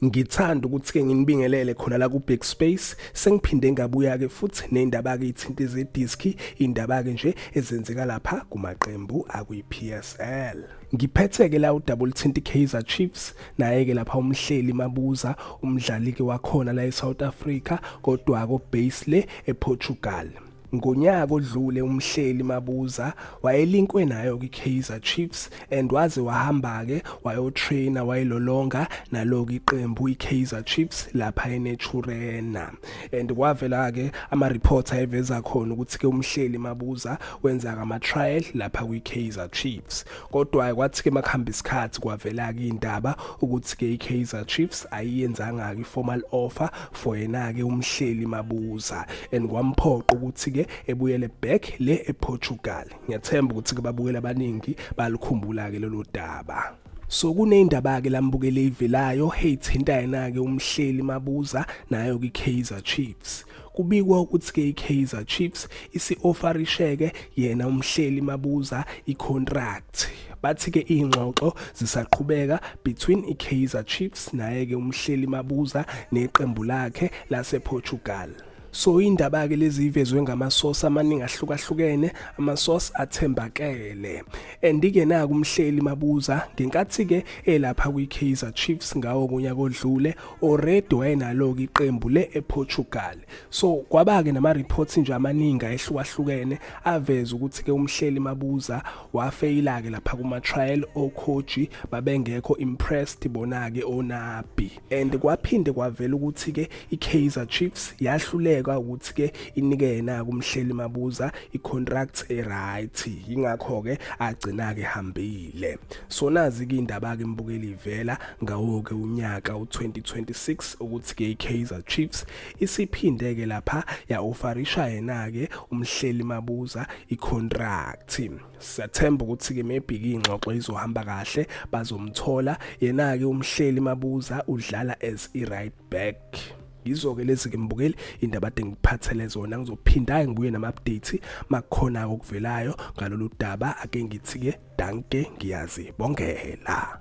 Ngithanda ukuthi-ke nginibingelele khona la ku-Big Space sengiphinde ngabuya-ke futhi nendaba-ke ithinta izediski indaba-ke nje ezenzeka lapha kumaqembu akwi-PSL ngiphethe-ke la udaba oluthinta i-kaizer chiefs naye-ke lapha umhleli mabuza umdlali-ke wakhona la e-south africa kodwa-ko base le eportugal Ngonyaka odlule umhleli Mabuza wayelinkwe nayo kwiKaizer Chiefs and waze wahamba-ke wayotraina wayilolonga naloku iqembu iKaizer Chiefs lapha eNaturena. And kwavela-ke ama-reports ayeveza khona ukuthi-ke umhleli Mabuza wenza-ke ama-trial lapha kwiKaizer Chiefs. kodwa-ke kwathi-ke uma kuhamba isikhathi kwavela-ke indaba ukuthi-ke i-kaizer chiefs ayiyenzanga-ke i-formal offer for yena-ke umhleli mabuza and kwamphoqa ukuthi-ke ebuyele back le eportugal ngiyathemba ukuthi-ke babukela abaningi balikhumbula-ke lelo daba so kuneyindaba-ke lambukele ivelayo heyithinta yena-ke umhleli mabuza nayo kwi-kaizer chiefs Kubikwa ukuthi-ke iKaizer Chiefs isi-ofarisheke yena umhleli mabuza icontract. Bathi-ke iy'ngxoxo zisaqhubeka between iKaizer Chiefs naye-ke umhleli mabuza neqembu lakhe lasePortugal. So indaba-ke lezi ivezwe ngamasosi amaningi ahlukahlukene, amasosi athembakele. And-ke naku umhleli mabuza ngenkathi-ke elapha kwi-Kaizer Chiefs ngawo kunyaka odlule already wayenalo-ke iqembu le-eportugal so kwaba-ke nama-reports nje amaningi ayehlukahlukene aveza ukuthi-ke umhleli mabuza wafeyila-ke lapha kuma-trial okhoji babengekho impressed bona-ke onabi and kwaphinde kwavela ukuthi-ke i-kaizer chiefs yahluleka ukuthi-ke inike yena-ke umhleli mabuza i-contract e-right yingakho-ke agcina-ke hambile so nazi-ke indaba-ke mbukeli ivela ngawo-ke unyaka u-2026 ukuthi-ke i-kaizer chiefs isiphinde-ke lapha ya-ofarisha yena-ke umhleli mabuza ikhontract siyathemba ukuthi-ke maybe iy'ngxoxo izohamba kahle bazomthola yena-ke umhleli mabuza udlala as i-right back yizo-ke lezi ke mbukeli indaba ade ngiphathele zona ngizophinda-ke ngibuye nama-update makukhona-ke okuvelayo ngalolu daba ake ngithi-ke danke ngiyazibongela